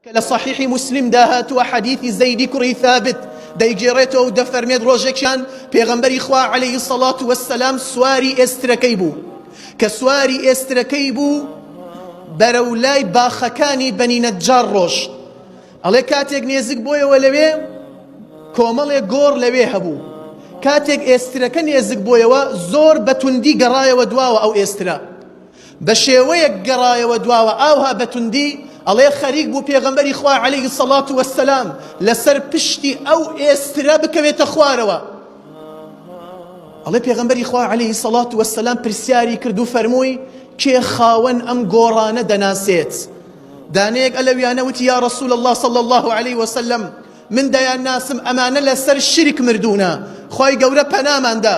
کە لە صحیحی موسلیمدا هاتووە حەدیثی زەیدی کوڕی ثابت دەیگێڕێتەوە و دەفەرمێت ڕۆژێکیان پێغەمبەری خوا عەلەیهی سەڵات وەسەلام سواری ئێسترەکەی بوو کە سواری ئێسترەکەی بوو بەرە و لای باخەکانی بەنی نەجار ڕۆشت ئەڵێ کاتێک نێزیک بۆیەوە لەوێ کۆمەڵێ گۆڕ لەوێ هەبوو کاتێک ئێسترەکە نێزیک بۆیەوە زۆر بەتوندی گەڕایەوە دواوە ئەو ئێسترە بە شێوەیەک گەڕایەوە دواوە ئاوها بە توندی ئەڵێ خەریک بوو پێغەمبەری خوا عەلەیهی سەڵات وەسەلام لەسەر پشتی ئەو ئێسترە بکەوێتە خوارەوە ئەڵێ پێغەمبەری خوا عەلەیهی سەڵات وەسەلام پرسیاری کرد و فەرمووی کێ خاوەن ئەم گۆڕانە دەناسێت دانەیەک ئەلەویانە وتی یا رسول الله صلی الله عليه وسلم من دەیان ناسم ئەمانە لەسەر شرک مردوونە خی گەورە پەناماندا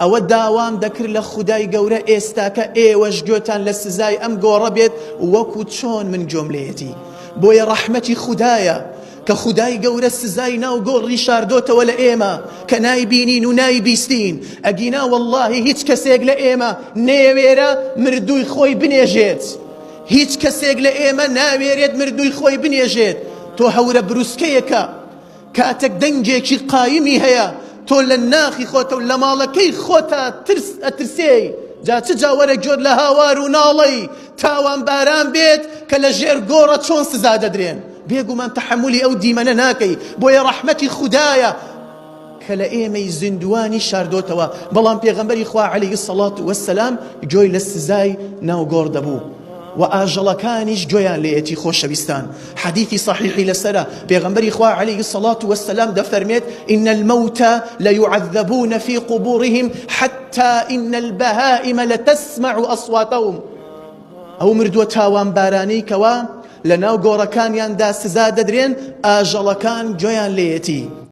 ئەوە داوام دەکرد لە خودای گەورە ئێستاکە ئێوەش گۆێتان لە سزای ئەم گۆڕە بێت وەکو چۆن من گۆم لێیەتی بۆیە ڕەحمەتی خودایە کە خودای گەورە سزای ناو گۆڕ ڕیشاردۆتەوە لە ئێمە کە نایبینین و نایبیستین ئەگینا وەڵاهی هیچ کەسێک لە ئێمە نەیەوێرا مردووی خۆی بنێژێت هیچ کەسێک لە ئێمە ناوێرێت مردووی خۆی بنێژێت تۆ هەورە بروسکەیەکە کاتێک دەنگێکی قایمی هەیە تۆ لە ناخی خۆتە و لە ماڵەکەی خۆتا ترس ئەترسێی جا چ جاوەرە گۆر لە هاوار و ناڵەی تاوان باران بێت کە لە ژێر گۆڕە چۆن سزا دەدرێن بێگومان تەحملی ئەو دیمەنە ناکەی بۆیە ڕەحمەتی خودایە کە لە ئێمەی زیندوانی شاردۆتەوە بەڵام پێغەمبەری خوا عەلەیهی سەڵات وەسەلام گوێی لە سزای ناوگۆڕ دەبوو و ئاژەڵەکانیش گوێیان لێیەتی خۆشەویستان حەدیسی سەحیحی لەسەرە، پێغەمبەری خوا علیە الصلوة و السلام دەفەرمێت، ان الموت لیعذبون فی قبورهم حتی ان البهائم لتسمع اصواتهم ئەو مردووە تاوانبارانەی کەوا لەناو گۆڕەکانیاندا سزا دەدرێن ئاژەڵەکان گوێیان لێیەتی.